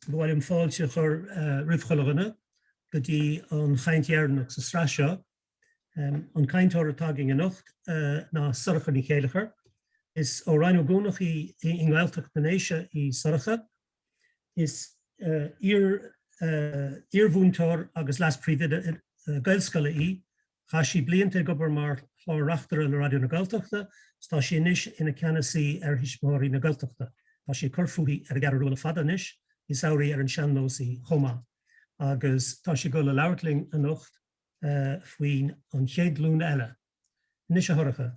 Ba mhaith liom fáilte a chur roimh chuile dhuine go dtí an chaint dheireanach sa sraith seo. An cainteoir atá againn anocht ná Sorcha Ní Chéilleachair. Is ó Rinn Ó gCuanach í i nGaeltacht na nDéise í Sorcha. Is iar-mhúinteoir agus leas-phríomhoide gaelscoile í Chaith sí blianta ag obair mar chlár-reachtaire le Raidió na Gaeltachta is tá sí anois ina Ceannasaí ar Thuismitheoirí na Gaeltachta. Tá sí ag cur fúithi ar an gCeathrú Rua le fada anois, is amhránaí ar an sean-nós í chomh maith, agus tá sí ag dul ag labhairt linn anocht faoin an chéad ghlúin eile. Anois a Shorcha.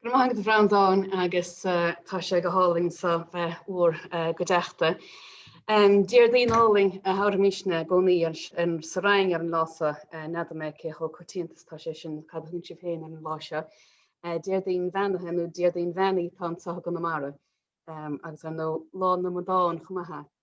Go raibh maith agat a Bhreandáin agus tá sé go hálainn a bheith in bhur gcuideachta. Déardaoin álainn a thabharfaimisne i gcónaí sa Rinn ar an lá so. N'fheadar mé cé chomh coitianta is tá sé sin cad a thugann sibh féin ar an lá seo. Déardaoin Bheannaithe nó Déardaoin Bheannaí atá anso i gConamara agus ar ndóigh Lá na nAmadán chomh maith.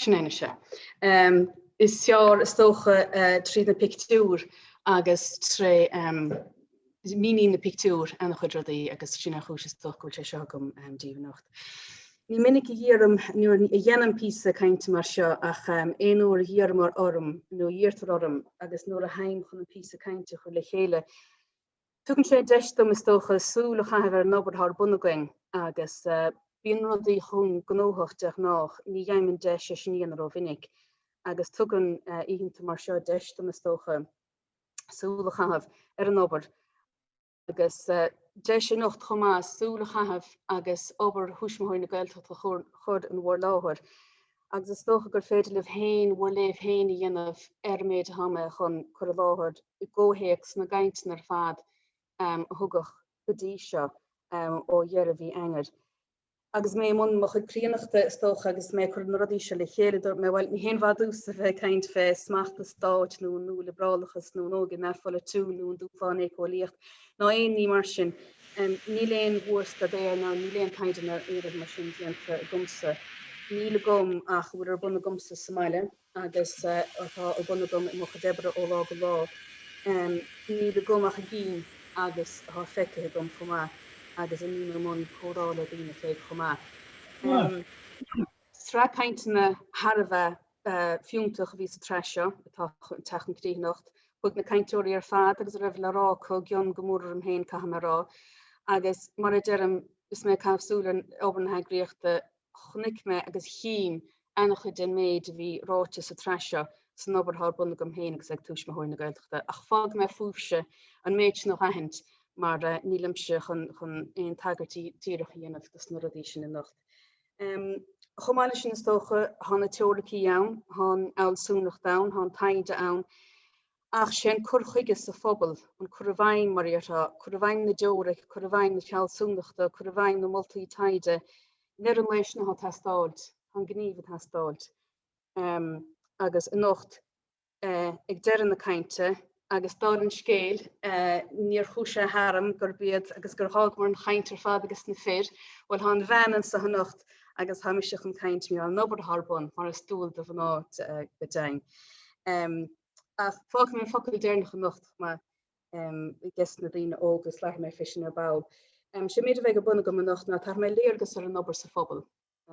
Sin é mise. Is fearr is dócha tríd na pictiúir agus tré míníonn na pictiúir an-chuid rudaí agus sin an chúis is dócha go bhfuil sé seo agam díbh anocht. Ní minic a dheinim nó a dhéanaim píosa cainte mar seo ach aon uair a dh'iarrtar orm nó a dh'iarrtar orm agus nuair a théim chun an píosa cainte a chur le chéile Tugann sé deis dom, is dócha, súil a chaitheamh ar an obair atá ar bun againn agus bíonn rudaí chomh gnóthach de ghnáth, ní gheibhim an deis é sin a dhéanamh rómhinic agus tugann oícheanta mar seo deis dom, is dócha, súil a chaitheamh ar an obair agus deis anocht chomh maith súil a chaitheamh agus obair Thuismitheoirí na Gaeltachta a chur in bhur láthair agus is dócha gur féidir libh féin bhur léamh féin a dhéanamh ar an méid atá mé chun cur i láthair. i gcomhthéacs na gcainteann ar fad a thugadh go dtí seo ó dheireadh mhí Eanáir. Agus mé i mbun mo chuid críonnachta, is dócha, agus mé ag cur na rudaí seo le chéile, dúirt mé, bhuel, ní haon mhaith domhsa a bheith ag caint fé smacht an stáit nó an nua-liobrálachas nó an óige neamhpholaitiúil nó an dúshlán éiceolaíoch ná aon ní mar sin. Níl aon mhórstaidéar ná níl aon taighde ná aon rud mar sin déanta agamsa. Níl agam ach a bhfuil ar bun agamsa sa mbaile. agus atá ar bun agam i mo chuid oibre ó lá go lá, níl agam ach a gcím agus atá feicthe agam chomh maith agus a mbím i mbun comhrá le daoine fé chomh maith. Sraith cainteanna thar a bheith fiúntach a bhí sa tsraith seo atá ag teacht chun críche anocht. Chuaigh na cainteoirí ar fad agus a raibh le rá acu i gcionn go mór orm féin caithfidh mé a rá, agus mar a deirim is mé ag caitheamh súil ar obair na heagraíochta Chonaic mé agus chím an-chuid den méid a bhí ráite sa tsraith seo san obair atá ar bun agam féin agus ag Tuismitheoirí na Gaeltachta, ach fágfaidh mé fúibhse an méid sin a aithint mar nílimse chun aon tagairt díreach a dhéanamh dos na rudaí sin anocht. Chomh maith leis sin is dócha, tá na teoiricí ann, tá an fhealsúnacht ann, tá an taighde ann, ach sé an cur chuige sa phobal, an cur i bhfeidhm, mar a déarfá, cur i bhfeidhm na dteoiric, cur i bhfeidhm na fealsúnachta, cur i bhfeidhm na moltaí taighde, i ndeireadh an lae sin atá ag teastáil, tá an gníomh ag teastáil. Agus anocht, ag deireadh na cainte, agus dála an scéil, níor chuaigh sé tharam gurb iad agus gur dh'fhágamar an chaint ar fad ages na fir, bhuel tá an bhean anseo anocht agus tá mise chun caint, an obair atá ar bun, mar is dual do mhná go deimhin. Ach fágfaidh mé an focal deireanach anocht chomh maith ages na daoine óga is labharfaidh mé fé sin ar ball. Sé an méid a bheidh ar bun agam anocht ná tabharfaidh mé léargas ar an obair sa phobal,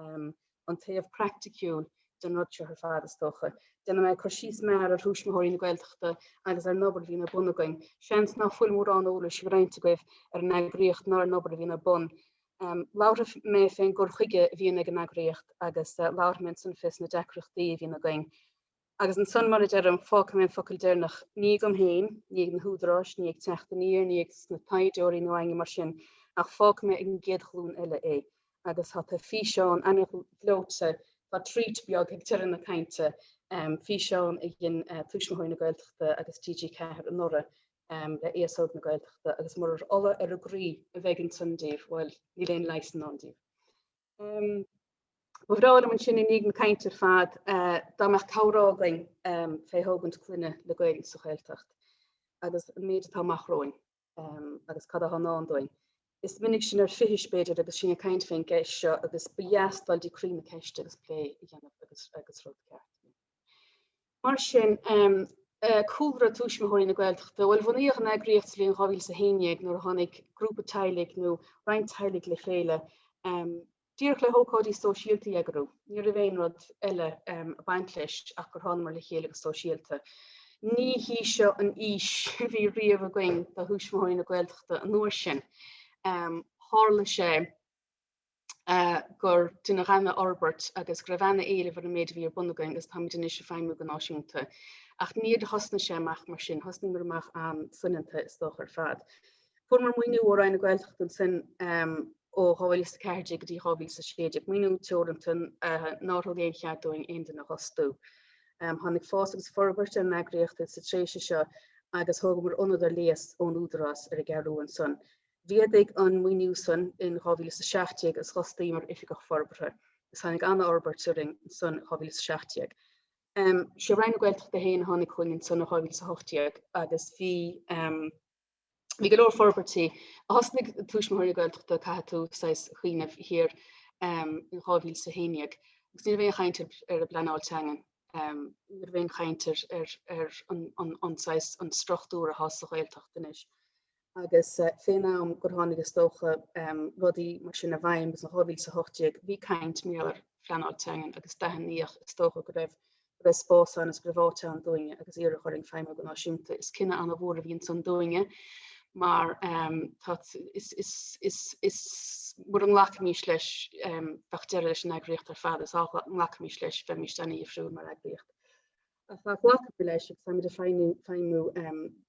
an taobh praiticiúil den rud seo ar fad is dócha. Déanfaidh mé cur síos mear ar Thuismitheoirí na Gaeltachta agus ar an obair a bhíonn ar bun againn. Seans ná fuil mórán eolais ag roinnt agaibh ar an eagraíocht ná ar an obair a bhíonn ar bun. Labharfaidh mé fén gcur chuige a bhíonn ag an eagraíocht agus labharfaidh mé ansin fé sna deacrachtaí a bhíonn againn. Agus ansan, mar a deirim, fágfaidh mé an focal deirneach, ní agam féin, ní ag na húdaráis, ní ag Teacht Aniar, ní ag na taighdeoirí ná éinne mar sin, ach fágfaidh mé ag an gcéad ghlúin eile é. Agus tá tá físeán ana ghleoite, tá treat beag ag deireadh na cainte, físeán a dhein Tuismitheoirí na Gaeltachta agus TG4 anuraidh le aos óg na Gaeltachta agus murar ola ar an gcroí a bheidh ansan daoibh, bhuel, níl aon leigheas i ndán daoibh. Um, ba bhreá liom ansin i ndiaidh na cainte ar fad uh, dá mbeadh comhrá againn um, fé thógaint clainne le Gaeilge sa Ghaeltacht agus an méid atá amach romhainn um, agus cad atá i ndán dúinn. Is minic sinn ar fithis b'fhéidir agus sinn ag caint fén gceist seo agus ba dheas dul go dtí croí na ceiste agus plé a dhéanamh agus, agus rud ceart. Mar sin, cúlra Tuismitheoirí na Gaeltachta, bhuel, bhunaíodh an eagraíocht sa bhliain 2011 nuair a tháinig grúpa teaghlaigh nó roinnt teaghlaigh le chéile, díreach le hócáidí sóisialta a eagrú. Ní raibh aon rud eile ag baint leis ach gur thánamar le chéile go sóisialta. Ní hí seo an fhís a bhí riamh againn do Thuismitheoirí na Gaeltachta an uair sin. Tharla sé. gur deineadh ana fhorbairt agus go raibh ana éileamh ar an méid a bhí ar bun againn agus táimid anois ag feidhmiú go náisiúnta. Ach níor thosnaigh sé amach mar sin, thosnaíomar amach an-soineanta is dócha ar fad. Fuaireamar maoiniú ó Roinn na Gaeltachta ansin ó 2014 go dtí 2016, maoiniú teoranta nár thug aon chead dúinn aon duine a fhostú. Tháinig fás agus forbairt ar an eagraíocht sa tréimhse seo agus thógamar ionad ar léas ón Údarás ar an gCeathrú ansan. Mhéadaigh an maoiniú san in 2017 is d'fhostaíomar Oifigeach Forbartha is tháinig an-fhorbairt orainn ansan in 2017. Is í Roinn na Gaeltachta féin a tháinig chugainn ansan in 2018 agus bhí bhí go leor forbairtí. Thosnaigh Tuismitheoirí na Gaeltachta, caithfidh tú saghas cuimhneamh siar, in 2011 agus ní raibh aon chaint ar an bpleanáil teangan, ní raibh aon chaint ar ar ar an an saghas an struchtúr atá sa Ghaeltacht anois. agus fén am gur tháinig is dócha rudaí mar sin i bhfeidhm agus in 2018 bhí caint mhór ar phleanáil teangan agus d'aithníodh is dócha go raibh go raibh spás ann is go raibh áit ann dúinne agus iarradh orainn feidhmiú go náisiúnta. Is cinneadh an-mhór a bhí ansan dúinne mar dá is is is is mura nglacfaimís leis bheadh deireadh leis an eagraíocht ar fad is dá nglacfaimís leis bheimís ana dhifriúil mar eagraíocht. ghlacamar leis agus táimid ag feidhmiú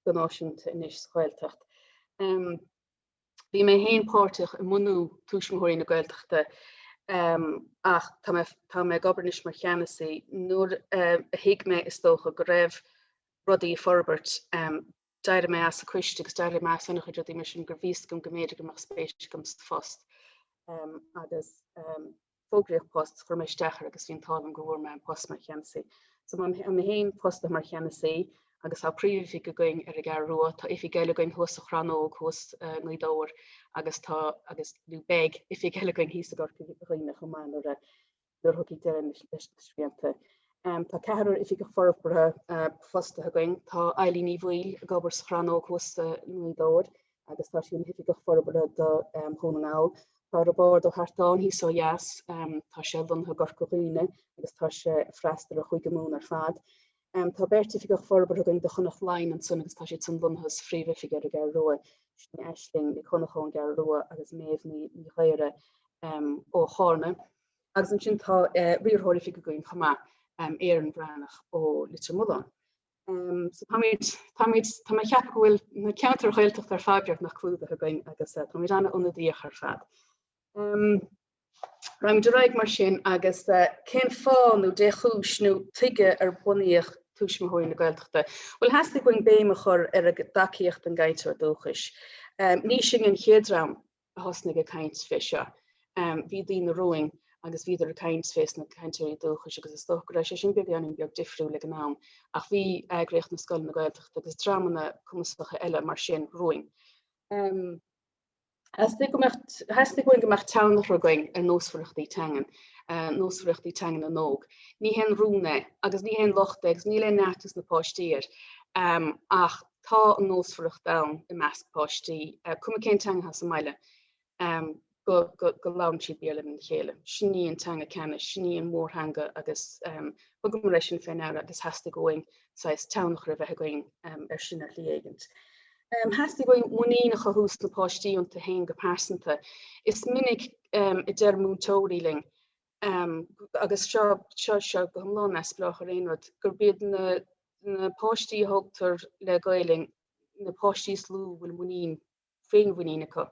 go náisiúnta anois sa Ghaeltacht. Bhí mé féin páirteach i mbunú Tuismitheoirí na Gaeltachta ach tá mé ag obair anois mar cheannasaí. Nuair a thuig mé, is dócha, go raibh rudaí ag forbairt, d'éirigh mé as an coiste agus d'éirigh mé as an-chuid rudaí mar sin mar bhí a fhios agam go mb'fhéidir go mbeadh spéis agam sa phost agus fógraíodh post chuir mé isteach air agus bhí an t-ádh liom go bhfuair mé an post mar cheannasaí. So tá mé féin fostaithe mar cheannasaí agus tá príomhoifig againn ar an gCeathrú Rua, tá oifig eile againn thuas sa Chrannóg thuas i nGaoth Dobhair agus tá agus nó beidh oifig eile againn thíos i gCorca Dhuibhne chomh maith nuair a nuair a thiocfaidh deireadh leis na srianta. Tá ceathrar oifigeach forbartha fostaithe againn, tá Eileen Ní Bhaoill ag obair sa Chrannóg thuas i nGaoth Dobhair, agus tá sí ina hOifigeach Forbartha do Dhún na nGall. Tá Roibeárd Ó hArtáin thíos ó dheas, tá sé lonnaithe i gCorca Dhuibhne agus tá sé ag freastal ar Chúige Mumhan ar fad. Tá beirt Oifigeach Forbartha againn do Chonnacht Laighean ansin agus tá siadsan lonnaithe sa bPríomh-Oifig ar an gCeathrú Rua, sin iad Aisling Nic Dhonnchadha ón gCeathrú Rua, agus Méabh Ní Ghaora, ó Charna. Agus ansin tá Riarthóir Oifige againn chomh maith, Éireann Breathnach ó Leitir Mealláin. Tá mé cheap go bhfuil na ceantair Ghaeltachta ar fad beagnach clúdaithe againn agus tá muid ana-ionadaíoch ar fad. Raghaimid ar aghaidh mar sin agus cén fáth nó dé chúis nó tuige ar bunaíodh Tuismitheoirí na Gaeltachta? Bhuel theastaigh uainn béim a chur ar an dtacaíocht don gcainteoir dúchais. Ní sinn an chéad dream a thosnaigh ag caint fé seo. Bhí daoine romhainn agus bhíodar ag caint fés na cainteoirí dúchais agus is dócha go raibh sé sin beagáinín beag difriúil ag an am, ach bhí Eagraíocht na Scoileanna Gaeltachta agus dreamanna cumasacha eile mar sin romhainn. Theastaigh uainn go mbeadh tionchar againn ar nósmhaireachtaí teangan, nósmhaireachtaí teanga na n-óg. Ní haon rún é agus ní haon locht é agus níl aon neart ag na páistí air ach Tá an nósmhaireacht ann i measc páistí, cuma cén teanga atá sa mbaile, go labhrann siad Béarla lena chéile. Sin í an teanga ceannais, sin í an mhórtheanga agus thugamar é sin fé ndeara agus theastaigh uainn saghas tionchar a bheith againn ar sin ar shlí éigint. Theastaigh uainn muinín a chothú sna páistí iontu fhéin go pearsanta. Is minic a deir múinteoirí linn agus seo go hiomlán neamhspleách ar aon rud, gurb iad na páistí a thógtar le Gaelainn na páistí is lú a bhfuil muinín, féinmhuinín acu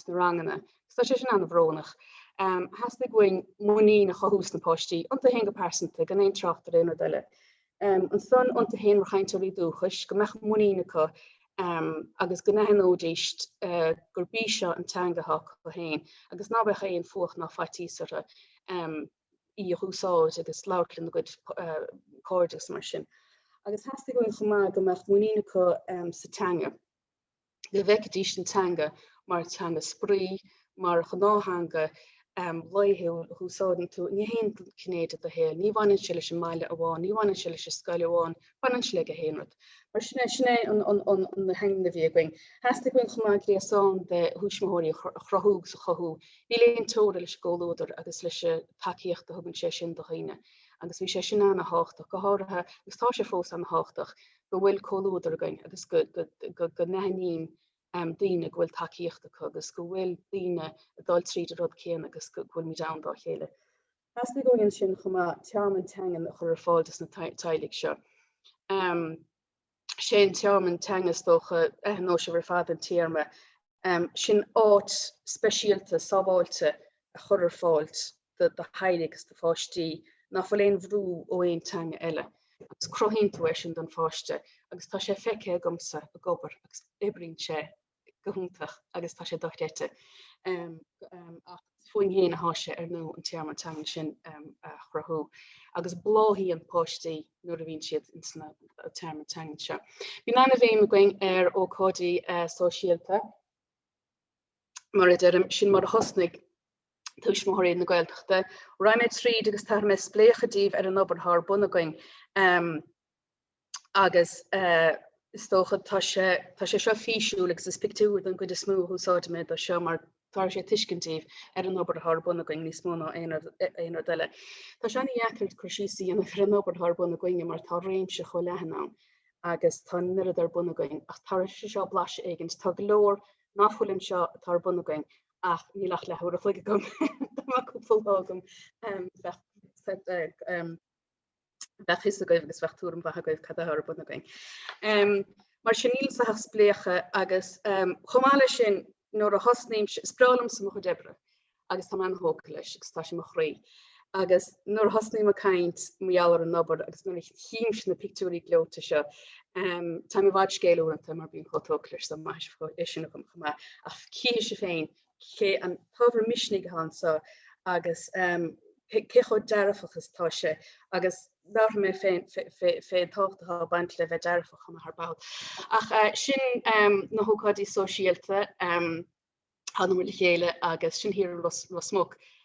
sna ranganna. Agus tá sé sin an-bhrónach. Theastaigh uainn muinín a chothú sna páistí, iontu féin go pearsanta, gan aon trácht ar aon rud eile. Ansan iontu féin mar chainteoirí dúchais, go mbeadh muinín acu agus go n-aithneoidís gurb í seo an teanga atá acu féin agus ná bheadh aon fuacht ná faitíos orthu í a úsáid agus labhairt lena gcuid cairde agus mar sin. Agus theastaigh uainn chomh maith go mbeadh muinín acu sa teanga. go bhfeicfidís an teanga mar theanga spraoi, mar ghnáth-theanga laethúil a húsáideann tú i ngach aon ghné de do shaol. Ní bhaineann sé leis an mbaile amháin, ní bhaineann sé leis an scoil amháin, baineann sé le gach aon rud. Mar sin, sin é an aidhm a bhí againn. Theastaigh uainn chomh maith gréasán de thuismitheoirí a chruthú agus a chothú. Níl aon teora leis an gcomhluadar agus leis an tacaíocht a thugann sé sin do dhaoine agus bhí sé sin an-thábhachtach, go háirithe, agus tá sé fós an-thábhachtach, go bhfuil comhluadar againn agus go n-aithníonn daoine go bhfuil tacaíocht acu agus go bhfuil daoine ag dul tríd an rud céanna agus go bhfuil muid ann dá chéile. Theastaigh uainn ansin chomh maith tearmann teangan a chur ar fáil dos na teaghlaigh seo. Sé an tearmann teangan is dócha aithneoidh sibh ar fad an téarma sin áit speisialta, sábháilte a chur ar fáil do do theaghlaigh agus do pháistí, ná fuil aon bhrú ó aon teanga eile, agus cruthaíonn tú é sin don pháiste, agus tá sé feicthe agamsa ag obair, agus oibríonn sé go hiontach, agus tá sé dochreidte. féachaint air. Sé, ar ndóigh, an tearmann teangan sin a chruthú agus bláthaíonn páistí nuair a bhíonn siad ins na tearmainn teangan seo. Bíonn an-bhéim againn ar ócáidí sóisialta mar a deirim, sin mar a thosnaigh Tuismitheoirí na Gaeltachta. Raghaidh mé tríd agus tabharfaidh mé spléachadh daoibh ar an obair atá ar bun againn. agus is dócha tá sé tá sé seo físiúil agus is pictiúr don gcuid is mó a úsáidfidh mé dó seo mar tabharfaidh sé tuiscint daoibh ar an obair atá ar bun againn níos mó ná aon aon rud eile. Tá sé ana dheacair cur síos a dhéanamh ar an obair atá ar bun againne mar tá réimse chomh leathan ann agus tá an oiread ar bun againn ach tabharfaidh sé seo blaiseadh éigin. Tá go leor nach bhfuil anseo atá ar bun againn ach níl ach leathuair a chloig agam dá mbeadh cúpla lá agam bheadh bheadh fhios agaibh agus bheadh tuairim mhaith agaibh cad atá ar bun againn. Mar sin níl anseo ach spléachadh agus chomh maith leis sin nuair a thosnaímse is breá liomsa mo chuid oibre agus táim an-tógtha leis agus tá sé mo chroí agus nuair a thosnaím ag caint mar gheall ar an obair agus nuair a chímse na pictiúirí gleoite seo táim i bhfad scéil uaireanta mar bím chomh tógtha leis is maith leis sin agam chomh maith ach chífidh sibh féin Cé an t-ábhar misnigh atá anseo agus cé chomh dearfach is atá sé agus labharfaidh mé fén tábhacht atá ag baint le bheith dearfach chomh maith ar ball. Ach sin na hócáidí sóisialta, anam le chéile agus sin thiar i Ros Muc.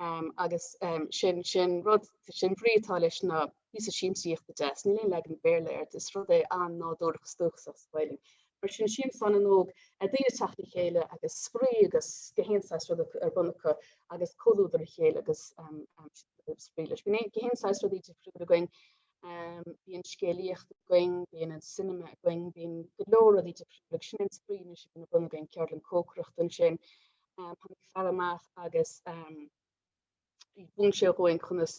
agus sin sin rud sin an bhrí atá leis ná píosa siamsaíochta deas. Níl aon leagan Béarla air, is rud é an-nádúrach is dúchasach sa Ghaeilg. Mar sin siamsa an fhan óg ag daoine ag teacht le chéile agus spraoi agus gach aon saghas rud ar bun acu agus comhluadar a chéile agus spraoi leis. Bíonn gach aon saghas rudaí difriúla againn, bíonn scéalaíocht againn, bíonn an cinema againn, bíonn go leor rudaí difriúla agus sin an spraoi anois a bhíonn ar bun againn, ceardlann cócaireachta ansin Tháinig fear amach agus mhúin sé dhúinn conas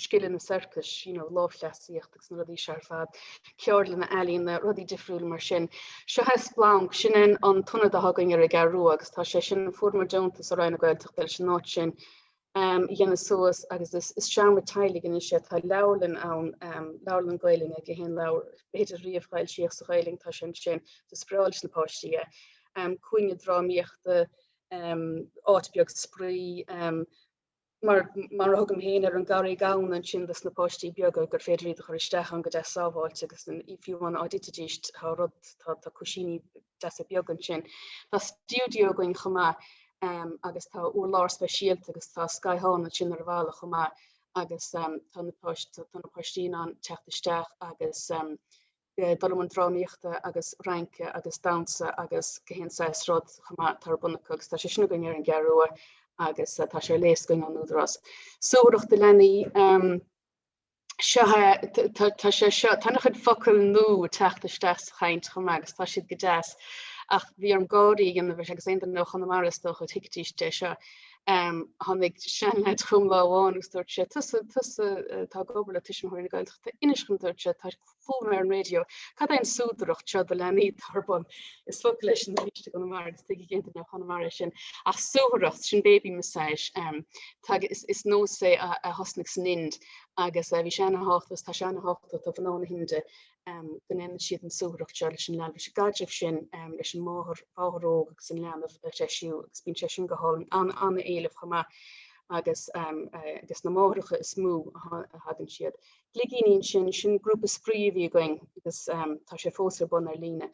scileanna sorcais, you know, lámhchleasaíocht agus na rudaí seo ar fad, ceardlanna ealaíne, rudaí difriúla mar sin. Seo é Splanc, sin é an t-ionad atá againn ar an gCeathrú Rua, agus tá sé sin, fuaireamar deontas ó Roinn na Gaeltachta leis an áit sin. dhéanamh suas agus is seomra teaghlaigh anois é. Tá leabharlann ann, leabharlann Gaoluinne gach aon leabhar b'fhéidir riamh a foilsíodh sa Ghaoluinn, tá sé ansin do spraoi leis na páistí é. Cúinne drámaíochta, áit beag spraoi, mar mar a thugaim féin ar an gCarraig Ghamhna ansin dos na páistí beaga gur féidir iad a chur isteach ann go deas sábháilte agus fiú amháin dá dtitidís tá rud tá cúisíní deasa beaga ansin. Tá stiúideo againn chomh maith agus tá urlár speisialta agus tá scáthán ansin ar an bhfalla chomh maith agus tá na páistí in ann teacht isteach agus dul i mbun drámaíochta agus rince agus damhsa agus gach aon saghas rud chomh maith atá ar bun acu agus tá sé sin againn ar an gCeathrú Rua agus tá sé ar léas againn ón Údarás. Suathaireacht do leanaí. seo tá sé seo tá an-chuid focail nua ag teacht isteach sa chaint chomh maith agus tá siad go deas ach bhí orm gáirí a dhéanamh agus aon nó chun mar is dócha tuigtís de seo tháinig seanleaid chugam lá amháin agus dúirt sé tusa tusa atá ag obair le Tuismitheoirí na Gaeltachta inis dhom dúirt sé tá fógra ar an raidió, Cad é an súdaireacht seo do leanaí atá ar bun? Is focal é sin arís ó Chonamara agus tuigfidh aon duine ó Chonamara é sin? Ach suathaireacht, sin baby massage. Is nós é a thosnaigh san Ind agus bhí sé ana thábhachtach agus tá sé ana thábhachtach do mhná na hInde go ndéanann siad an suathaireacht seo leis an leanbh, leis an gcaidreamh sin leis an máthair, mháthair óg agus an leanbh a threisiú agus bíonn sé sin go hálainn, ana-éileamh chomh maith agus na máithreacha is mó a thagann siad. Gligíní, sin, sin grúpa spraoi a bhí againn agus tá sé fós ar bun ar líne,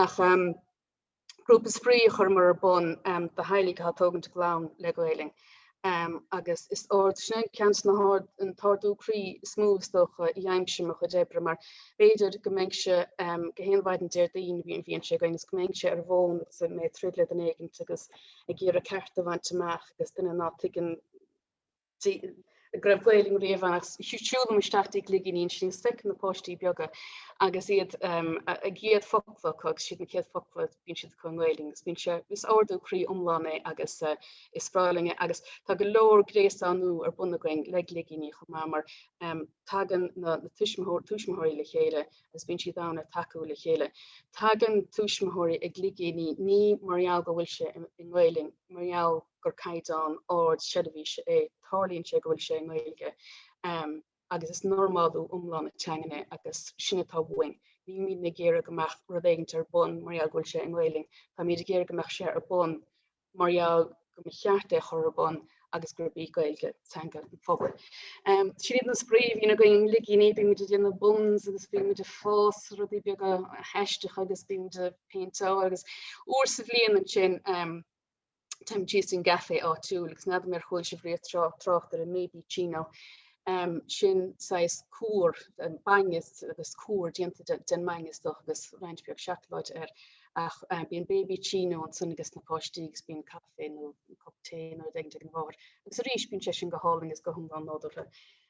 ach grúpa spraoi a chuireamar ar bun do theaghlaigh atá ag tógaint a gclann le Gaelainn agus is ard, sin é ceann de na hard, an t-ardú croí is mó is dócha a dheinim i mo chuid oibre mar b'fhéidir go mbeinn, sé, gach aon mhaidin Déardaoin a bhíonn sé againn, is go mbeinnse ar an bhfón agus mé ag troid le duine éigint agus ag iarraidh ceart a bhaint amach agus duine ná tuigeann go raibh Gaolainn riamh ann agus siúlaim isteach go dtí gligíní ansin agus feicim na páistí beaga agus iad na céad focla acu agus is iad na céad focla bíonn siad acu i nGaolainn agus bíonn sé is ardú croí iomlán é agus is spráiling é agus tá go leor gréasánú ar bun againn le gligíní chomh maith mar tagann na tuismitheoirí tuismitheoirí le chéile agus bíonn siad ann ag tacú le chéile. Tagann tuismitheoirí go Gligíní ní mar gheall go bhfuil sé i nGaolainn mar gheall gur caighdeán ard seirbhíse é, tarlaíonn sé go bhfuil sé i nGaeilge agus is normálú iomlán na teangan é agus sin atá uainn. Nílímid ag iarraidh go mbeadh rud éigint ar bun mar gheall go bhfuil sé i nGaelainn, táimid ag iarraidh go mbeadh sé ar bun mar gheall go mba cheart é a chur ar bun agus gurb í Gaeilge teanga an phobail. Sin iad na spraoi a bhíonn againn, na Gligíní, bímid ag déanamh buns agus bímid ag fás rudaí beaga aisteacha agus bímid ag péinteáil agus uair sa bhliain ansin téimid síos don gcaifé áitiúil agus n'fheadar ar chuala sibh riamh trácht ar an mbabyccino. Sin saghas cúr, bainne agus cúr déanta den mbainne istigh agus roinnt beag seacláide air. Ach bíonn babyccino ansan ages na páistí agus bíonn caife nó cup tae nó rud éigin ag an máthair. Agus arís bíonn sé sin go hálainn agus go hiomlán nádúrtha.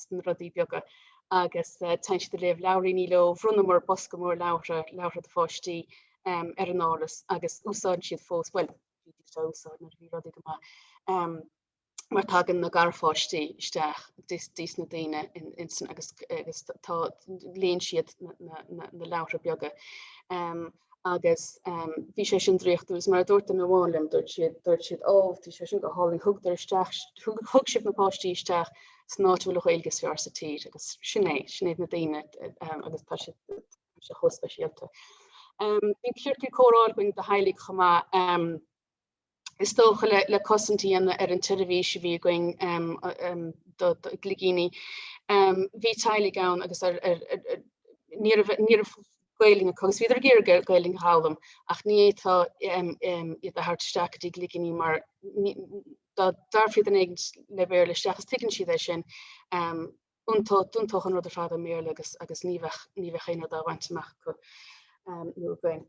sna rudaí beaga agus tá siad ag léamh leabhairíní leo, bhronnamar bosca mór leabhra, leabhra do pháistí, ar an áras agus úsáideann siad fós, bhuel, bhí siad á úsáid nuair a bhí rudaí go maith, mar tagann na garpháistí isteach go dtí na daoine agus léann siad na leabhra beaga. agus bhí sé sin draíochtúil is mar a dúirt duine amháin liom dúirt siad dúirt siad ó bhí sé sin go hálainn thugadar isteach thug thug sibh na páistí isteach san áit a bhfuil an Ghaeilge is fearr sa tír agus sin é sin iad na daoine agus tá siad tá siad chomh speisialta. Bhí ciorcal comhrá againn do theaghlaigh chomh maith. is dócha, le cosaint a dhéanamh ar an tseirbhís a bhí againn do ghligíní. Bhí teaghlaigh ann agus ní raibh Gaeilge acu agus bhíodar ag iarraidh Gaeilge a dh'fhoghlaim ach ní fhéadfá iad a thabhairt isteach go dtí Gligíní mar dá dtabharfá duine éigin le Béarla isteach is tuigeann siad é sin. D'iontódh an rud ar fad ar an mBéarla agus ní bheadh aon rud á bhaint amach acu nó againn.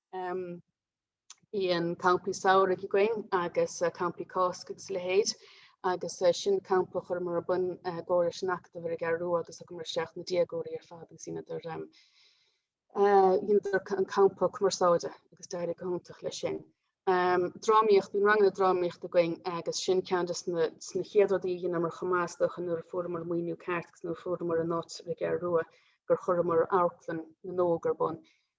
Ehm bíonn campaí samhraidh againn agus campaí Cásca agus a leithéid agus sin na campaí a chuireamar ar bun i gcomhar leis an Acadamh ar an gCeathrú Rua agus thugamair isteach na déagóirí ar fad agus dheineadar ehm dheineadar an campa cumarsáide agus d'éirigh go hiontach leis sin. Ehm drámaíocht, bíonn ranganna drámaíochta againn agus sin ceann de na de na chéad rudaí a dheineamar chomh maith is dócha nuair a fuaireamar maoiniú ceart agus nuair a fuaireamar an áit ar an gCeathrú Rua gur chuireamar Amharclann na nÓg ar bun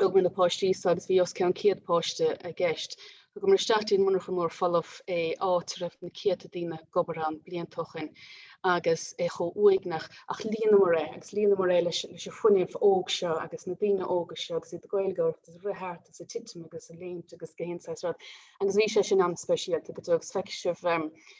Thugamair na páistí seo agus bhí os ceann 100 páiste i gceist. Thugamair isteach dtí'n monarcha mór folamh iad áit a raibh na céadta daoine ag obair ann blianta ó shin agus é chomh uaigneach ach líonamar é agus líonamar é leis leis an fuinneamh óg seo agus na daoine óga seo agus iad ag gáire agus ag rith thart agus ag titim agus ag léimt agus gach aon saghas rud agus bhí sé sin an-speisialta go dtí go bhfeice sibh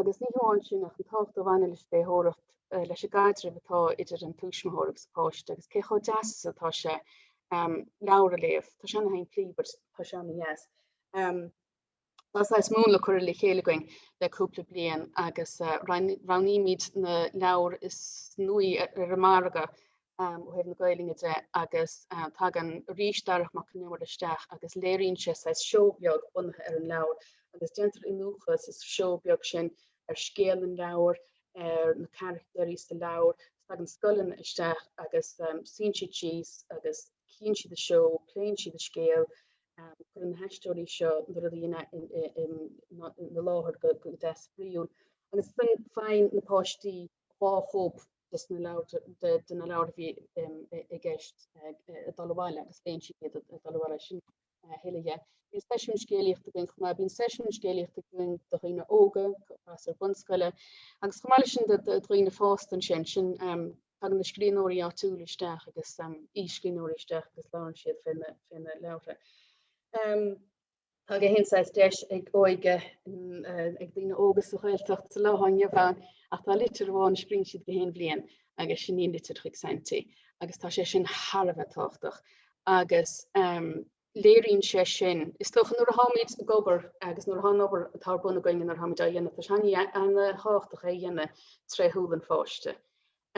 agus ní hamháin sin ach an tábhacht a bhaineann leis an léitheoireacht, leis an gcaidreamh atá idir an tuismitheoir agus an páiste agus cé chomh deas is atá sé leabhar a léamh. Tá sé ana shimplí but tá sé ana dheas. Tá saghas múnla curtha le chéile againn le cúpla bliain agus roghnaímid na leabhair is nuaí ar an margadh ó thaobh na Gaelainne de agus tagann arís Darach Mac an Iomaire isteach agus léiríonn sé saghas seó beag bunaithe ar an leabhar agus déantar iniúchadh sa seó beag sin ar scéal an leabhair, ar na carachtair sa leabhar. Tagann scoileanna isteach agus suíonn siad síos agus cíonn siad an seó, pléann siad an scéal. Cuireann na haisteoirí seo na rudaí in a in a in a láthair go deas spraíúil agus san faigheann na páistí dhá chóip de na leabhair a bhí i gceist ag dul abhaile agus léann siad iad ag dul abhaile. Sin a thuilleadh dhe. Bíonn seisiúin scéalaíochta againn chomh maith. Bíonn seisiúin scéalaíochta againn do dhaoine óga, páistí bunscoile agus chomh maith leis sin do dhaoine fásta ansin. Sin tagann na scríbhneoirí áitiúla isteach agus aoi-scríbhneoirí isteach agus labhrann siad fé na leabhartha. Tá gach aon saghas deis ag óige ag daoine óga sa Ghaeltacht sa lá atá inniu ann ach tá litir amháin a scríonn siad gach aon bhliain agus sin í an litir chuig Santi agus tá sé sin thar a bheith tábhachtach agus léiríonn sé sin, is dócha, nuair atáimid ag obair agus nuair atá an obair atá ar bun againn nuair atáimid á dhéanamh, tá sé an-tábhachtach é a dhéanamh tré shúil an pháiste.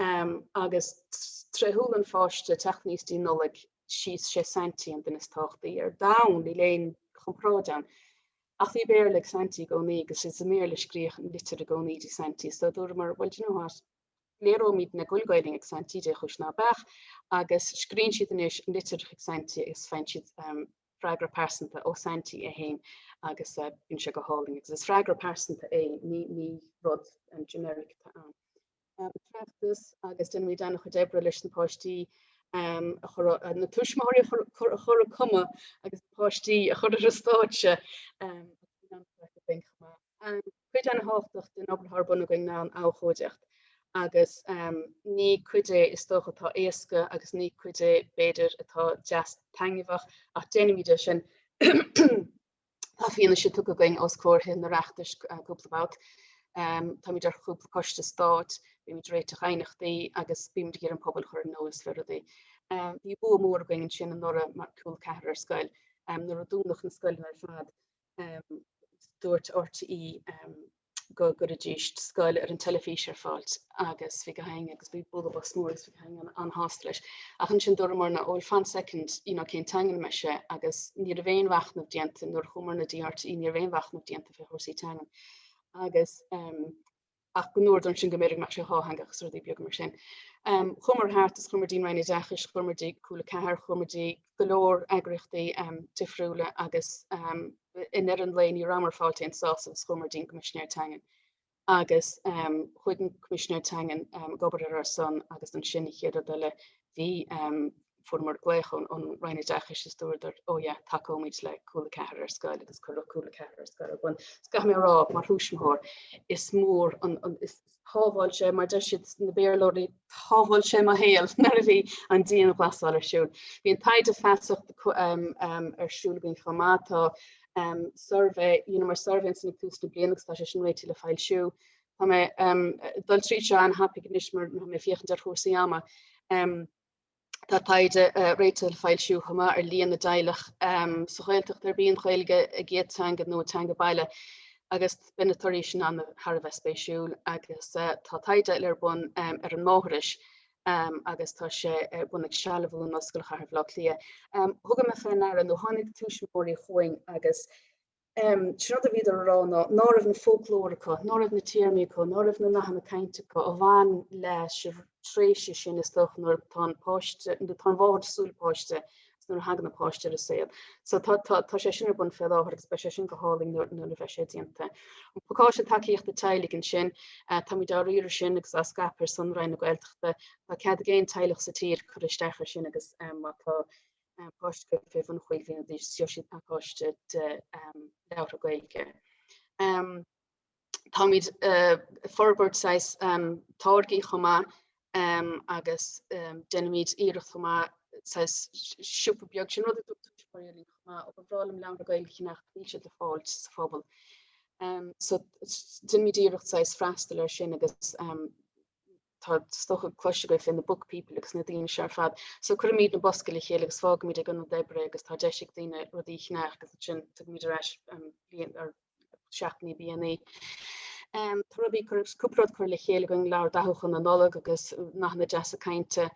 Am agus tré shúil an pháiste ag teacht aníos dtí Nollaig is é Saintí an duine is tábhachtaí ar domhan, níl aon chomparáid ann. Ach bhí Béarla ag Saintí i gcónaí agus is i mBéarla a scríodh an litir i gcónaí dtí Saintí so dúramar bhuel do you know what, léireoimidne go bhfuil Gaeilge ag Saintí dé chúis ná beadh agus scríonn siad anois litir chuig Saintí agus faigheann siad freagra pearsanta ó Saintí é féin agus bíonn sé go hálainn agus is freagra pearsanta é ní rud generic atá ann. an feachtas agus déanann muid an-chuid oibre leis na páistí um a chur na tuismitheoirí a chur a chur ag cumadh agus na páistí a chur ar an stáitse um cuid an-tábhachtach den obair atá ar bun againn ná an abhchóideacht agus um ní cuid é is dócha atá éasca agus ní cuid é b'fhéidir atá deas taitneamhach ach déanaimid é sin Tá fianaise tugtha againn os comhair Thithe an Oireachtais cúpla babht. Táimid ar chúpla coiste stáit, bímid ag réiteach aighneachtaí agus bímid ag iarraidh an pobal a chur ar an eolas faoi rudaí. Bhí bua mór againn ansin anuraidh mar Cúla Ceathair ar scoil. Nuair a dúnadh na scoileanna ar fad dúirt RTÉ go gcuiridís scoil ar an teilifís ar fáilt agus bhí gach éinne agus bhí bualadh bos mór agus bhí gach éinne an-shásta leis. Ach ansin dúramarna oh fan second you know cén teanga ina mbeidh sé agus ní raibh aon mhachnamh déanta nuair a chuamarna dtí RTÉ ní raibh aon mhachnamh déanta fé chúrsaí teangan agus ehm ach go ndúradar ansin go mb'fhéidir go mbeadh sé dhátheangach is rudaí beaga mar sin. Ehm chuamar thart is chuamar dtí an Roinn Oideachais chuamar dtí Cúla Ceathair chuamar dtí go leor eagraíochtaí ehm difriúla agus ehm I ndeireadh an lae ní rabhamar ag fáilt aon sásamh is chuamar dtí an Coimisinéir Teangan agus chuaigh an Coimisinéir Teangan ag obair ar ár son agus ansin an chéad rud eile bhí fuaireamar glaoch ón ón Roinn Oideachais is dúradar ó yeah tacóimid le Cúla Ceathair ar scoil agus cuireadh Cúla Ceathair ar scoil. Bhuel is caithfidh mé a rá mar thuismitheoir is mór an is shábháil sé, mar deir siad na Béarlóirí, shábháil sé mo shaol nuair a bhí an dianghlasáil ar siúl. Bhí an taighde feasachta ar siúl againn chomh maith. Tá suirbhé, dheineamar suirbhé ansin ag tús na bliana agus tá sé sin réidh le foilsiú. Tá mé ag dul tríd seo an-tapaidh anois mar tá mé ag féachaint ar chúrsaí ama. Tá taighde réidh le foilsiú chomh maith ar líon na dteaghlach sa Ghaeltacht arb í an Ghaeilge a gcéad teanga nó a teanga baile agus beidh na torthaí sin an- thar a bheith spéisiúil. Agus tá taighde eile ar bun ar an Máithreas agus tá sé ar bun ag Sealbhú in Ollscoil Chathair Bhaile Átha Cliath. Thugamar fé ndeara nó tháinig tuismitheoirí chugainn agus Sé an rud a bhíodar a rá ná, ná raibh an foclóir acu, ná raibh na téarmaí acu, ná raibh na nathanna cainte acu a bhain leis an tréimhse sin is dócha nuair atá an páiste, nó tá an mháthair ag súil le páiste is nuair a thagann an páiste ar a saol. So tá, tá, tá sé sin ar bun fé láthair agus beidh sé sin go hálainn nuair, nuair a bheidh sé déanta. An pacáiste tacaíochta teaghlaigh ansin, táimid á riaradh sin agus á scaipeadh ar son Roinn na Gaeltachta. Tá cead ag aon teaghlach sa tír cur isteach ar sin agus má tá, páiste acu fé bhun chúig bliana d'aois is gheobhaidh siad pacáiste de leabhartha Gaeilge. Táimid ag forbairt saghas táirgí chomh maith agus déanaimid iarracht chomh maith saghas siopa beag sin rud a dtugtar suas mar éileamh chomh maith ó ba bhreá liom leabhartha Gaeilge a cheannacht níl siad le fáil sa phobal. So déanaimid iarracht saghas freastal air sin agus Tá is dócha cloiste agaibh fé na book people agus na daoine seo ar fad. So cuirimid na boscaí le chéile agus fágaimid ag ionad oibre agus tá deis ag daoine rudaí a cheannach agus ansin tugaimid ar ais linn iad seachtain níos déanaí. Um, tá rudaí cúpla rud curtha le chéile againn leabhar dathúcháin na Nollag agus nathanna deasa cainte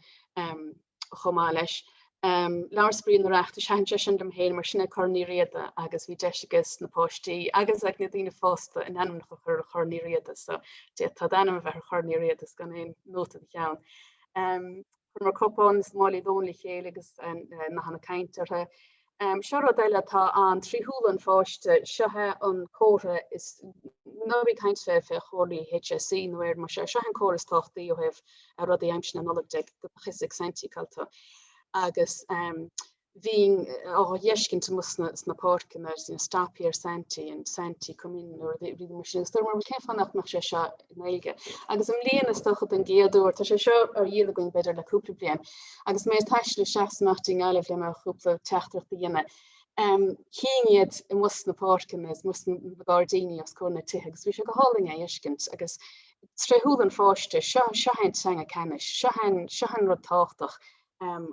um, chomh maith leis. Leabhar spraoi an Oireachtais, thaitin sé sin liom féin mar sin é Corn Uí Riada agus bhí deis ages na páistí agus ag na daoine fásta a n-ainmneacha a chur ar Chorn Uí Riada so d'fhéadfadh d'ainm a bheith ar Chorn Uí Riada is gan aon nóta id cheann. Chuireamar cupáin is málaí lóin le chéile agus nathanna cainte orthu. Seo rud eile atá ann trí shúile an pháiste, seo é an comhartha is nuair a bhí caint fé fé chomharthaí HSE nó ar mar seo é an comhartha is tábhachtaí ó thaobh rudaí aimsir na Nollag go mbeadh a fhios ag Saintí cá bhfuil tú agus bhínn á fheiscint amuigh sna sna páirceanna ansin stop here Saintí and Saintí come in rudaí mar sin. Is dúirt mé bhuel cén fáth nach nach bhfuil sé seo Gaeilge. Agus i mbliana is dócha don gcéad uair, tá sé seo ar dhíol againn b'fhéidir le cúpla bliain, agus mé ag taisteal isteach is amach i nGaillimh le mo chúpla teachtaireachta a dhéanamh, chínn iad amuigh sna páirceanna, amuigh sna gairdíní os comhair na tithe agus bhí sé go hálainn é a fheiscint agus tré shúil an pháiste, seo, seo é an teanga ceannais, seo an, seo an rud tábhachtach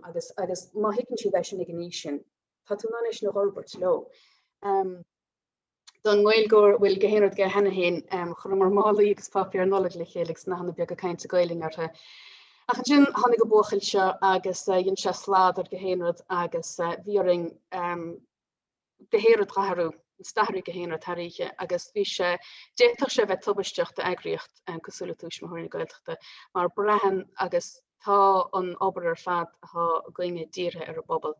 agus, agus má thuigeann siad é sin ag an aois sin, tá tú in ann é sin a dh'fhorbairt leo. Don nGaeilgeoir go bhfuil gach aon rud aige cheana féin, chuireamar málaí agus páipéar Nollag le chéile agus nathanna beaga cainte Gaelainn orthu. Ach ansin tháinig an buachaill seo agus dhein sé slad ar gach aon rud agus bhí orainn gach aon rud a dh'athrú, is d'athraigh gach aon rud thar oíche agus bhí sé, d'fhéadfadh sé a bheith tubaisteach d'eagraíocht cosúil le Tuismitheoirí na Gaeltachta mar braitheann agus tá an obair ar fad atá againne dírithe ar an bpobal.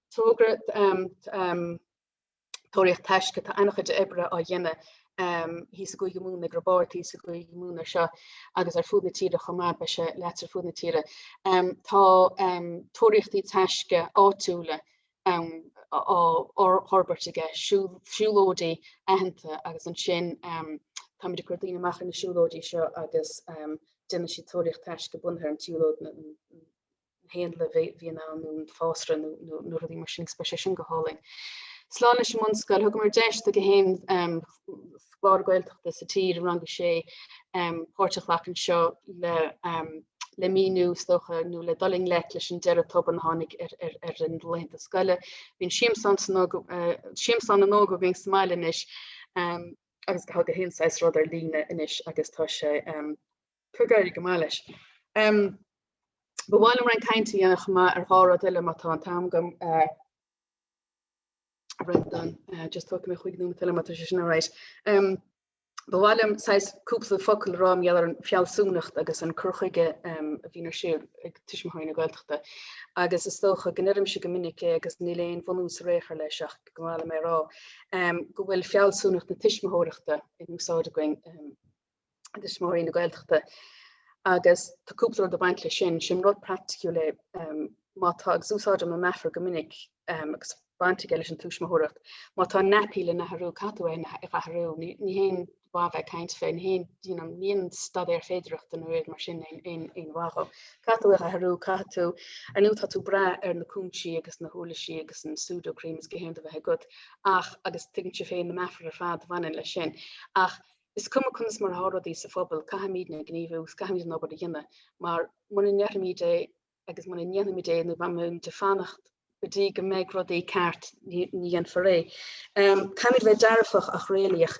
togra tóraíocht taisce atá an-chuid oibre á dhéanamh thíos i gCúige Mumhan, ag Roibeard thíos i gCúige Mumhan air seo agus ar fud na tíre chomh maith, beidh sé leata ar fud na tíre. Tá tóraíochtaí taisce áitiúla á fhorbairt aige, siúlóidí aitheanta agus ansin táimid ag cur daoine amach ar na siúlóidí seo agus déanann siad tóraíocht taisce bunaithe ar an tsiúlóid, haon le bheith bheith in ann an fásra nó nó rudaí mar sin agus beidh sé sin go hálainn. Slán leis an mbunscoil, thugamar deis do gach aon scoláire Gaeltachta sa tír i rang a sé páirt a ghlacadh anseo le le míniú, is dócha, nó le dul i ngleic leis an deireadh tobann a tháinig ar ar a laethanta scoile. Bíonn siamsán san siamsán na n-óg againn sa mbaile anois agus gach aon saghas rud ar líne anois agus tá sé Cur gearradh go maith leis. Ba mhaith liom roinnt cainte a dhéanamh chomh maith ar dhá rud eile má tá an t-am agam. I've written down, just tógfaidh mé chuig na tuilleamaí tá sé sin alright. Ba mhaith liom saghas cúpla focal a rá mar gheall ar an fealsúnacht agus an cur chuige a bhíonn ar siúl ag tuismitheoirí na Gaeltachta agus is dócha go n-oirimse go minic é agus níl aon bhunús i dtéarmaí leis ach is maith liom é a rá go bhfuil fealsúnacht na tuismitheoireachta in úsáid againn Tuismitheoirí na Gaeltachta agus tá cúpla rud ag baint le sin. Sin rud praiticiúil é má tá, agus úsáidim an meafar go minic agus baint aige leis an tuismitheoireacht, má tá naipí le n-athrú caithfidh tú é a athrú? Ní haon mhaith bheith ag caint fé, ní haon, you know, ní haon staidéar féidearthachta nó rud mar sin aon mhaith dhó. Caithfidh tú é a athrú? Caithfidh tú, ar ndóigh tá tú ag brath ar na cúinsí agus na huirlisí agus an Sudocrem is gach aon rud a bheith agat ach, agus tuigeann sibh féin na meafair ar fad a bhaineann leis sin, ach Is cuma conas mar atá rudaí sa phobal, caithfimid na gníomhú, caithfimid an obair a dhéanamh mar muna ndéanfaimid é agus muna ndéanfaimid é nó má bhímid ag fanacht go dtí go mbeidh rudaí ceart, ní dhéanfar é. Caithfimid a bheith dearfach ach réalaíoch.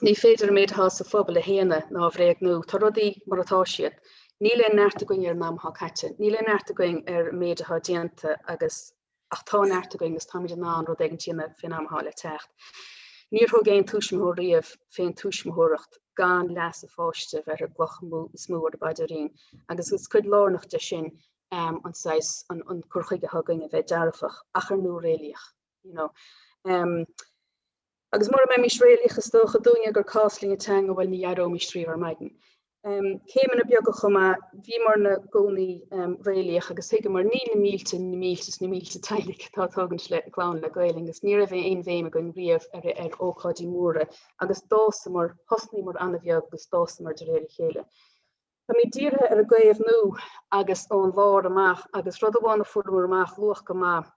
Ní féidir an méid atá sa phobal a shéanadh ná a bhréagnú. Tá rudaí mar atá siad. Níl aon neart againn ar an am atá caite. Níl aon neart againn ar an méid atá déanta agus Ach tá neart againn agus táimid in ann rud éigin a dhéanamh fén am atá le teacht. Níor thug aon tuismitheoir riamh fén tuismitheoireacht gan leas a pháiste bheith ar an gcloch is mó ar a phaidrín agus is cuid lárnach de sin an saghas, an cur chuige atá againn a bheith dearfach ach ar ndóigh réalaíoch, you know. Agus mura mbeimis réalaíoch is dócha dúinne gur cás linn an teanga bhuel ní éireoimís riamh ar maidin. Céimeanna beaga chomh maith, bhíomar i gcónaí réalaíoch agus thuigeamar níl na mílte, na mílte is na mílte teaghlaigh atá ag tógaint a gclann le Gaolainn agus ní raibh aon bhéim againn riamh ar ócáidí móra agus d'fhásamar, thosnaíomar an-bheag agus d'fhásamar de réir a chéile. Táimid dírithe ar an gcaomhnú agus ón lár amach agus rud amháin a fuaireamar amach luach go maith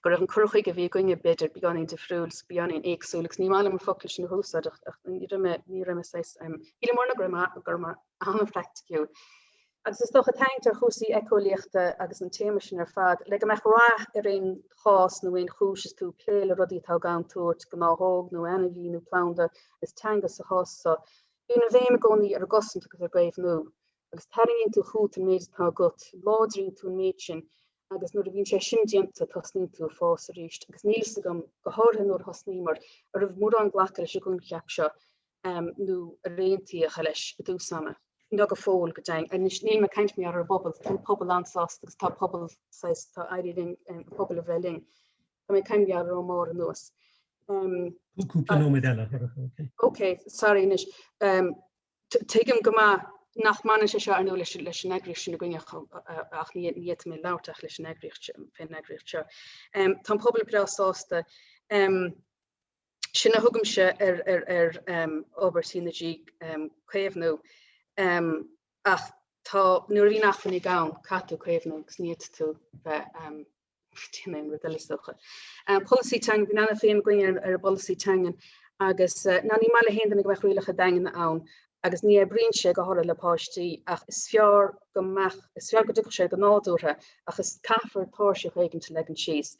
go raibh an cur chuige a bhí againne b'fhéidir beagáinín difriúil, beagáinín éagsúil, agus ní maith liom an focal sin a húsáid ach ach ní raibh mé ní raibh mé saghas shíl mé ar ndóigh go raibh mé go raibh mé an-phraiticiúil. Agus is dócha tarraingt ar chúrsaí éiceolaíochta agus an téama sin ar fad le go mbeadh rath ar aon chás nó aon chúis is tú ag plé le rudaí atá i gcontúirt, gnáthóg nó ainmhí nó planda, is teanga sa chás so. Bíonn an bhéim i gcónaí ar an gcosaint agus ar an gcaomhnú. Agus tarraingíonn tú chugat an méid atá agat, láidríonn tú an méid sin agus nuair a bhíonn sé sin déanta tosnaíonn tú ag fás arís agus níl fhios agam, go háirithe nuair a thosnaíomar, a raibh mórán glactha leis an gcoincheap seo nó ró-aontaithe leis i dtús ama. Nó go fóill go deimhin. Anois níl mé ag caint maidir leis an bpobal, tá an pobal an-sásta agus tá pobal saghas, tá éirithe linn an pobal a bhreith linn. Tá mé ag caint ón mbarr anuas. Cúpla nóiméad eile. Ok, sorry anois. Tuigim go maith nach mbaineann sé seo ar ndóigh leis leis an eagraíocht sin againne ach ní ní fhéadfaidh mé labhairt ach leis an eagraíocht seo fé an eagraíocht seo. Tá an pobal breá sásta. Sin a thugaimse ar ar ar obair CNG caomhnú ach tá nuair a bhíonn acmhainní ann caithfidh tú caomhnú agus ní fhéadfaidh tú bheith Déan mé an rud eile is dócha. Polasaí teangan, bhí Nana féin ag caint ar an bpolasaí teangan agus ná ní maith le haon duine go mbeadh rialacha daingean ann agus ní oibríonn sé go háirithe le páistí ach is fearr go mbeadh, is fearr go dtiocfadh sé go nádúrtha ach is caithfear tairseach éigin a leagan síos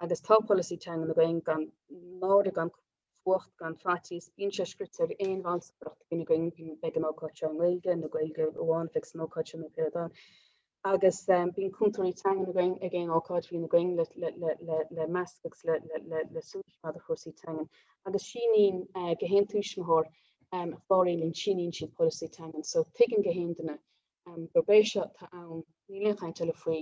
agus tá polasaí teangan againn gan náire gan fuacht gan faitíos. Bíonn sé scríofa ar aon bhall sa bhféach againne go mbeidh an ócáid seo i nGaeilge nó Gaeilge amháin a bheidh san ócáid seo nó pé rud ann. Agus bíonn cúntóirí teanga againn ag aon ócáid a bhíonn againn le meascadh agus le súil maidir le cúrsaí teangan. Agus síníonn gach aon tuismitheoir a chláraíonn linn, síníonn siad polasaí teangan. So tuigeann gach aon duine gurb é seo atá ann, níl aon chaint eile faoi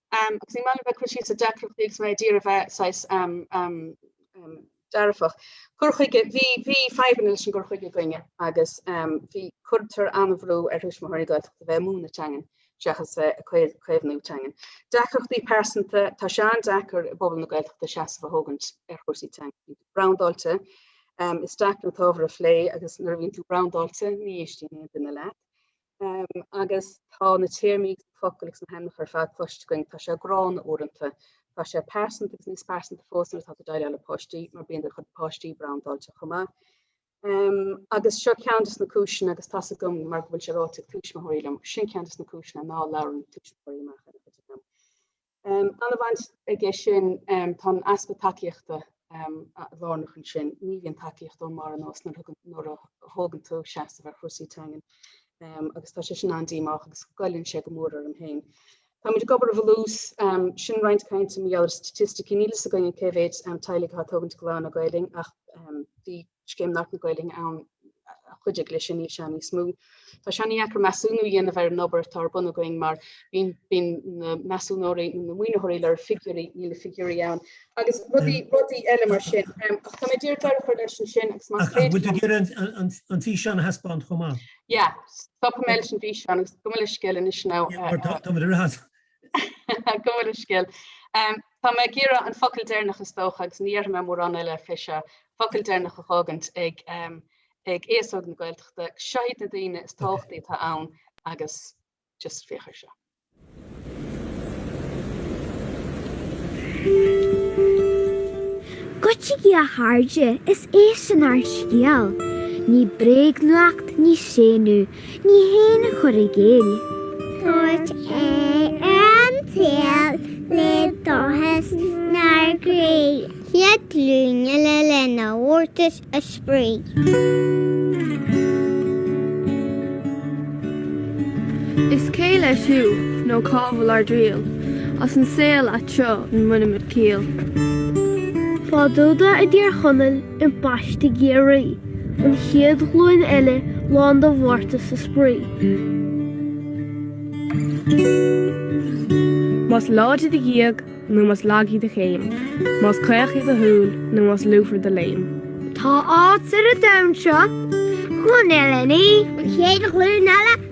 Um agus ní maith liom bheith cur síos ar deacrachtaí agus mé a d'iarraidh a bheith saghas um um um dearfach. Cur chuige, bhí bhí fadhbanna leis an gcur chuige againne agus um bhí cuirtear an-bhrú ar thuismitheoirí Gaeltachta bheith ag múineadh teangan seachas bheith ag caomh caomhnú teangan. Deacrachtaí pearsanta, tá sé an-deacair i bpobal na Gaeltachta seasamh a thógaint ar chúrsaí teanga. Bíonn tú brandáilte, um is deacair an t-ábhar a phlé agus nuair a bhíonn tú brandáilte ní éistíonn aon duine leat. Um, agus tá na téarmaí agus na focail agus na hainmneacha ar fad cloiste againn, tá sé gránna uaireanta. Tá sé pearsanta agus níos pearsanta fós nuair atá tú ag déileáil le páistí, mar bíonn do chuid páistí brandáilte chomh maith. Um, agus seo ceann de na cúiseanna agus tá's agam mar go bhfuil sé ráite ag tuismitheoirí liom, sin ceann de na cúiseanna ná labhrann tuismitheoirí amach ar an chuid eile. Ana-bhaint aige sin, tá an easpa tacaíochta lárnach ansin. Ní bhíonn tacaíocht ón mbarr anuas nuair a thógann tú seasamh ar chúrsaí teangan agus tá sé sin an-díomách agus goilleann sé go mór orm féin. Táimid ag obair i bhfolús. Sin roinnt cainte mar gheall ar staitisticí. Níl fhios againn cé mhéid teaghlaigh atá ag tógaint clann le Gaelainn ach bhí Scéim Labhairt na Gaeilge ann a chuidigh leis sin, níl sé níos mó. Tá sé ana-dheacair measúnú a dhéanamh ar an obair atá ar bun againn mar bíonn na measúnóirí nó na maoinitheoirí le figiúirí, níl na figiúirí ann agus rudaí rudaí eile mar sin. Ach tá mé ag iarraidh deireadh a chur leis ansin agus más féidir liom... Ach bhfuil tú ag iarraidh an físeán a thaispeáint chomh maith? Yeah, stopfaidh mé leis an bhfíseán agus gabh mo leithscéal anois ná... Tá muid ag rith as. Gabh mo leithscéal. Tá mé ag iarraidh an focal deireanach is dócha agus ní dhéarfaidh mé mórán eile fé seo, focal deireanach a fhágaint ag ag aos óg na Gaeltachta. Seo iad na daoine is tábhachtaí atá ann agus just féach ar seo. Goitsigí a chairde is é sin ár scéal. Ní bréagnuacht, ní séanadh, Ní haon chur i gcéill. Tabhairt aghaidh ar an tsaol le dóchas 'nár gcroí. An chéad ghlúin eile lán de mhórtas is spraoi. Is cé leis thú nó cá bhfuil ár dtriall? As an saol ait seo an mbainimid ciall. Fadúda i dTír Chonaill. ambaiste i gCiarraí, an chéad ghlúin eile lán de mhórtas is spraoi. Más láidir do ghéag nó más lag í do chéim, más caoch í do shúil nó más lúfar do léim. Tá áit ar an domhan seo don uile ní, an chéad ghlúin eile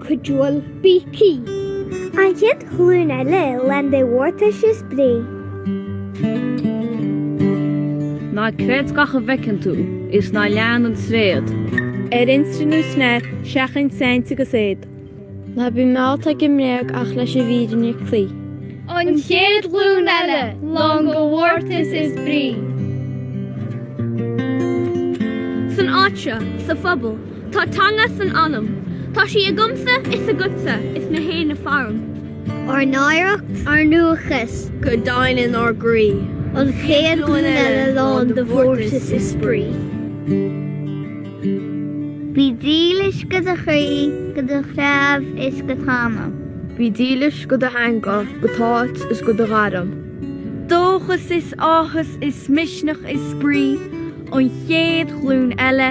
cuidiúil Beaky. An chéad ghlúin eile lán de mhórtas is brí. Ná creid gach a bhfeiceann tú is ná lean an tréad. Ar Insta nó Snap, seachain saint agus éad. Ná bí meallta ag an mbréag ach leis an bhfírinne cloí. An chéad ghlúin eile lán de mhórtas is brí. San áit seo, sa phobal. Tá teanga san anam. Tá sí agamsa is agatsa is gach éinne faram. Ár n-oidhreacht, ár ndúchas. Go daingean inár gcroí. An chéad ghlúin eile lán de mhórtas is spraoi. Bí dílis go do chroí, go do threabh is go t'anam. Bí dílis go do theanga, go t'áit is go do ghairm. Dóchas is áthas is misneach is spraoi, an chéad ghlúin eile.